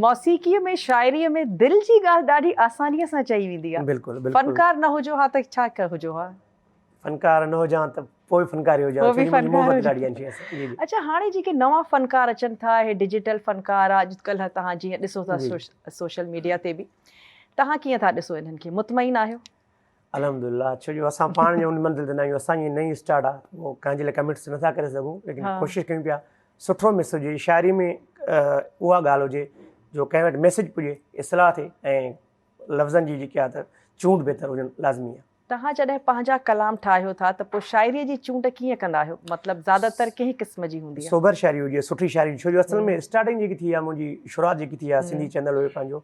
موسيقيء ۾ شاعريء ۾ دل جي ڳالهه ڏاڍي آسانيء سان چئي ويندي آ. بلڪل بلڪل. فنڪار نه هجو ها ته ڇا هجو ها. فنڪار نه هجان ته پوء به فنڪار ئي هجان. ڇو جو منهنجي محبت ڏاڍي آهن شينهن سان. جي جي. اڇا هاڻي جيڪي نوان فنڪار اچن ٿا اهي ڊجيٽل فنڪار آ اڄڪلهه توهان جيئن ڏسو ٿا سوشل ميڊيا تي به توهان ڪيئن ٿا ڏسو انهن کي مطمئن آهيو؟ الحمد لله ڇو جو اسان پاڻ جو ان منزل تي ناهيون اسان جي نئين اسٽارٽ آ او ڪنهن جي لاء ڪميٽس نٿا ڪري سگهون ليڪن ڪوشش ڪيون پيا سٺو مس هجي شاعري ۾ اها ڳالهه هجي جو ڪنهن وٽ ميسج پڄي اصلاح ٿي ۽ لفظن جي جيڪي آ ته چونڊ بهتر هجڻ لازمي آ توهان جڏهن پنهنجا ڪلام ٺاهيو ٿا ته پوء شاعري جي چونڊ ڪيئن ڪندا آهيو مطلب زياده تر ڪنهن قسم جي هوندي آ سوبر شاعري هجي سٺي شاعري ڇو جو اصل ۾ اسٽارٽنگ جيڪي ٿي آ منهنجي شروعات جيڪي ٿي آ سنڌي چينل هيو پنهنجو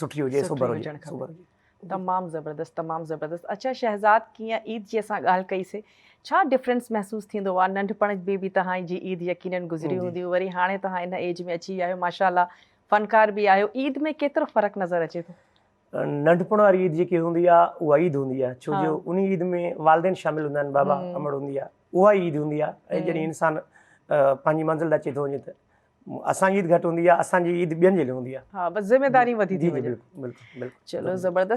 سٺي هجي سوبر هجي سٺي هجڻ کپي. سوبر هجي. تمام زبردست تمام زبردست اڇا شهزاد ڪيئن عيد جي اسان ڳالهه ڪئي سي ڇا ڊفرينس محسوس ٿيندو آ ننڍپڻ ۾ به توهان جي عيد يقينن گذري جي. هوندي وري هاڻي توهان ان ايج ۾ اچي ويا آهيو ماشاء الله فنڪار به آهيو عيد ۾ ڪيترو فرق نظر اچي ٿو. ننڍپڻ واري عيد جيڪي هوندي آ اها عيد هوندي آ ڇو جو ان عيد ۾ والدين شامل هوندا آهن بابا امڙ هوندي آ اها ئي عيد هوندي آ ۽ جڏهن انسان پنهنجي منزل تي اچي ٿو وڃي ته اسان جي عيد گهٽ هوندي آ اسان جي عيد ٻين جي لئي هوندي آ. ها بس ذميداري وڌي ٿي وڃن. جي جي بلڪل بلڪل. چلو زبردست.